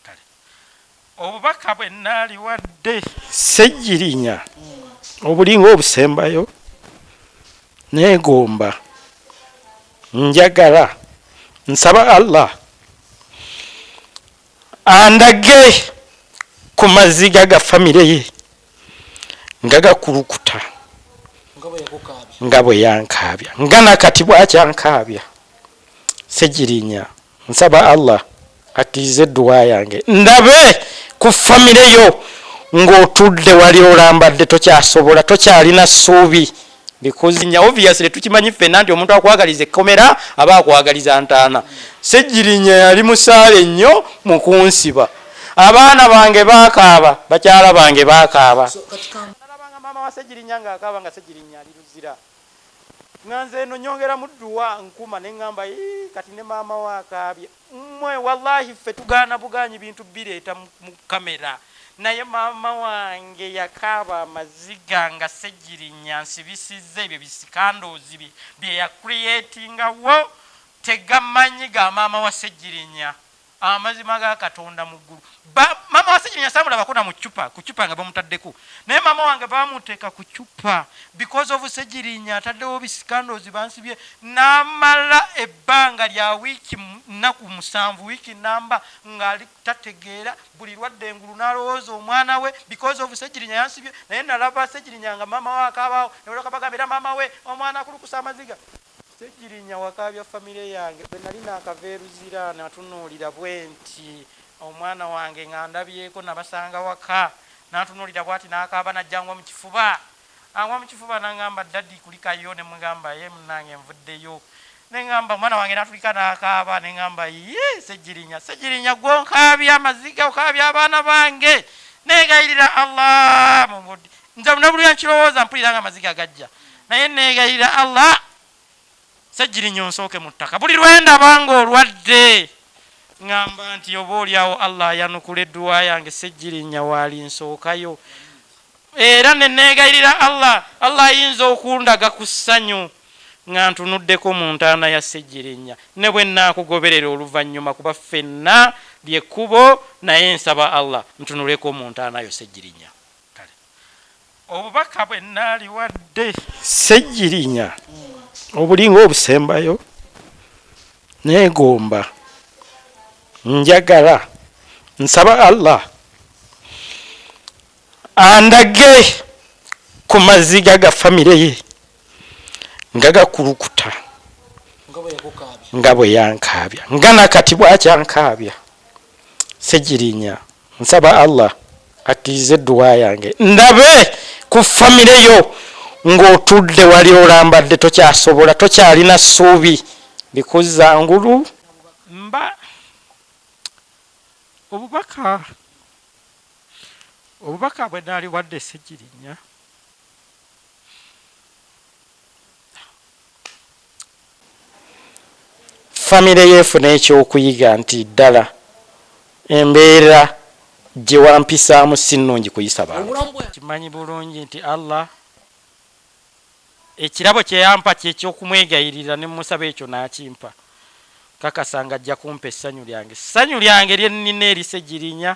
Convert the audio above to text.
Kale obubaka bwe nnaaliwadde Ssegirinya obulinga obusembayo nneegomba, njagala, nsaba Allah andage ku maziga ga famire ye nga gakulukuta nga bwe yankaabya nga na kati bw'akyankaabya. Ssegirinya Nsaba Allah akkirize edduwa yange ndabe ku famire yo ng'otudde wali olambadde tokyasobola tokyalina ssuubi because nya obviously tukimanyi ffenna nti omuntu akwagaliza ekkomera aba akwagaliza ntaana Ssegirinya yali musaale nnyo mu kunsiba abaana bange baakaaba bakyala bange baakaaba nalabanga maama wa Ssegirinya ng'akaaba nga Ssegirinya ali Luzira Nga nze eno nyongeramu duwa nkuma nengamba yii kati ne maama wo akaabye mmwe walahi ffe tugaana bugaanyi bintu bireeta mu camera naye maama wange yakaaba amaziga nga ssegirinya ansibisizza ebyo bi scandals bye byeya creatinga wo tegamanyi ga maama wa ssegirinya. Amazima ga katonda muggulu. Ba mama wasenyenya samulaba kona mu cupa ku cupa nga bamutaddeko naye mama wange bamuteka ku cupa because of segirinya ataddewo bisikandozi bansibye namala ebbanga lya wiiki nnaku musanvu wiiki namba ngali tategeera buli lwadde engulu nalowooza omwana we because of segirinya yansibye naye nalaba segirinya nga mama we akaabawo newolakabagambira mama we omwana akulukusa amaziga Ssegirinya wakaabya famire yange bwe nali naakava e Luzira natunuulira bwenti omwana wange nga ndabyeko nabasanga waka n'antunuulira bwati n'akaaba n'ajja angwa mu kifuba angwa mu kifuba n'angamba Daddy kulikayo ne mugamba yee munnange nvuddeyo ne ngamba omwana wange n'atulika n'akaaba ne ngamba yii Ssegirinya Ssegirinya ggwe onkaabya amaziga okaabya abaana bange neegayirira Allah mu budde nze lunabulira nkirowooza mpulira nga amaziga gajja naye neegayirira allah sejjirinya onsooke mu ttaka buli lwendaba nga olwadde ŋamba nti oba olyawo allah ayanukula edduwa yange sejjirinya waali nsookayo era neneegayirira allah allah ayinza okundaga ku ssanyu nga ntunuddeko mu ntaana ya sejjirinya ne bwe naakugoberera oluvannyuma kuba ffenna lyekkubo naye nsaba allah ntunuleko mu ntaanayo sejjirinya Kale obubaka bwe nnaaliwadde Ssegirinya obulinga obusembayo neegomba, njagala, nsaba Allah andage ku maziga ga famire ye nga gakulukuta nga bwe yankaabya nga na kati bw'akyankaabya. Ssegirinya. Nsaba Allah akkirize edduwa yange ndabe ku famire yo ng'otudde wali olambadde tokyasobola tokyalina ssuubi likuzza ngulu. Mba obubaka obubaka bwe naaliwadde Ssegirinya. famire yo efuna ekyokuyiga nti ddala embeera gye wampisaamu si nnungi kuyisa bantu. Nkimanyi bulungi nti Allah ekirabo kye yampa ky'eky'okumwegayirira ne mmusaba ekyo n'akimpa. Nkakasa ng'ajja kumpa essanyu lyange. Ssanyu lyange lye nnina erise Girinya